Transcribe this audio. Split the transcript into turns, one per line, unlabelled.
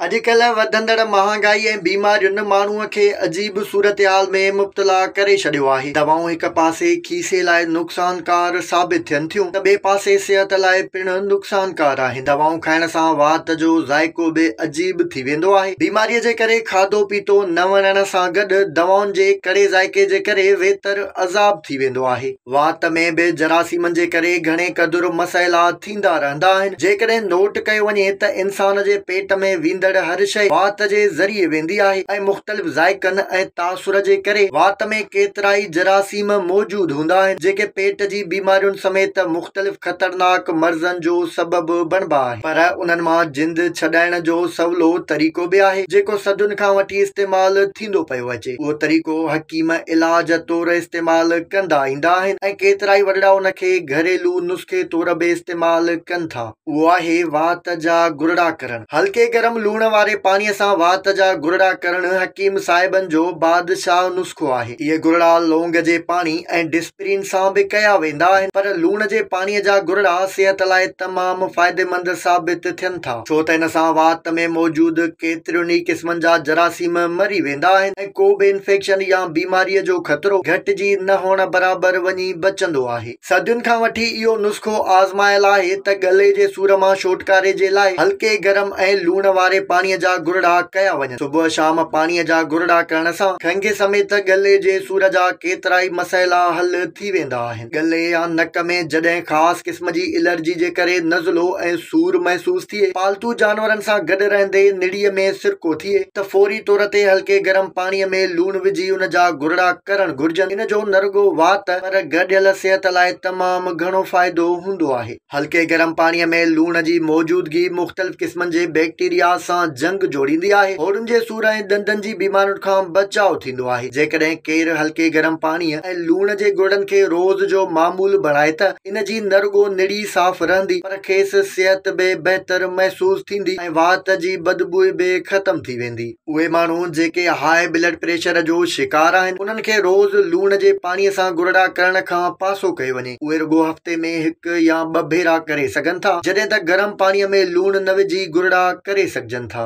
اڄڪلهه وڌندڙ مهانگائي ۽ بيمارين ماڻهوء کي عجيب صورتحال ۾ مبتلا ڪري ڇڏيو آهي. دوائون هڪ پاسي کيسي لاء نقصانڪار ثابت ٿين ٿيون ته ٻئي پاسي صحت لاء پڻ نقصانڪار آهن. دوائون کائڻ سان وات جو ذائقو به عجيب ٿي ويندو آهي. بيماريء جي ڪري کاڌو پيتو نه وڻڻ سان گڏ دوائن جي ڪڙي ذائقي جي ڪري ويتر عذاب ٿي ويندو آهي. وات ۾ به جراثيمن جي ڪري گهڻي قدر مسئلا ٿيندا رهندا آهن. جيڪڏهن نوٽ ڪيو وڃي ته انسان جي پيٽ ۾ ويندڙ هر شيء وات جي ذريعي ويندي آهي ۽ مختلف ذائقن ۽ تاثر جي ڪري وات ۾ ڪيترائي جراثيم موجود هوندا آهن جيڪي پيٽ جي بيمارين سميت مختلف خطرناڪ مرضن جو سبب بڻبا آهن. پر انهن مان جند ڇڏائڻ جو سولو طريقو به آهي جيڪو صدين کان وٺي استعمال ٿيندو پيو اچي. اهو طريقو حڪيم علاج طور استعمال ڪندا ايندا آهن ۽ ڪيترائي وڏڙا ان کي گهريلو نسخي طور به استعمال ڪن ٿا. اهو آهي وات جا گرڙا ڪرڻ. هلڪي گرم لوڻ واري پاڻي سان وات جا گرڙا ڪرڻ حڪيم صاحبن جو بادشاهه نسخو آهي. اهي گرڙا لونگ جي پاڻي ۽ ڊسپرين سان به ڪيا ويندا آهن پر لوڻ جي پاڻي جا گرڙا صحت لاء تمام فائديمند ثابت ٿين ٿا. ٿا، ڇو ته ان سان وات ۾ موجود ڪيترين ئي قسمن جا جراثيم مري ويندا آهن ۽ ڪو به انفيڪشن يا بيماريء جو خطرو گهٽجي نه هئڻ برابر وڃي بچندو آهي. صدين کان وٺي اهو نسخو آزمايل آهي ته ڳلي جي سور مان ڇوٽڪاري جي لاء هلڪي گرم ۽ لوڻ واري پاڻيء جا گرڙا ڪيا وڃن. صبح شام پاڻيء جا گرڙا ڪرڻ سان کنگهه سميت ڳلي جي سور جا ڪيترائي مسئلا حل ٿي ويندا آهن. ڳلي يا نڪ ۾ جڏهن خاص قسم جي الرجي جي ڪري نزلو ۽ سور محسوس ٿئي، پالتو جانورن سان گڏ رهندي نڙيء ۾ سرڪو ٿئي ته فوري طور تي هلڪي گرم پاڻيء ۾ لوڻ وجهي ان جا گهرڙا ڪرڻ گهرجن، ان جو نه رڳو وات پر گڏيل صحت لاء تمام گهڻو فائدو هوندو آهي. هلڪي گرم پاڻيء ۾ لوڻ جي موجودگي مختلف قسمن جي بيڪٽيريا سان جنگ جوڙيندي آهي. هوڙهن جي سور ۽ ڏندن جي بيمارين کان بچاء ٿيندو آهي. جيڪڏهن ڪير هلڪي گرم پاڻيء ۽ لوڻ جي گرڙن کي روز جو معمول بڻائي ته ان جي نه رڳو نڙي صاف رهندي پر کيس صحت به بهتر محسوس ٿيندي ۽ وات جي بدبوء به ختم ٿي ويندي. اهي ماڻهو جيڪي هاء بلڊ پريشر جو شڪار آهن، انهن کي روز لوڻ جي پاڻيء سان گرڙا ڪرڻ کان پاسو ڪيو وڃي. اهي رڳو هفتي ۾ هڪ يا ٻه ڀيرا ڪري سگهن ٿا، جڏهن ته گرم پاڻيء ۾ لوڻ نه وجهي گرڙا ڪري سگهجن ٿا.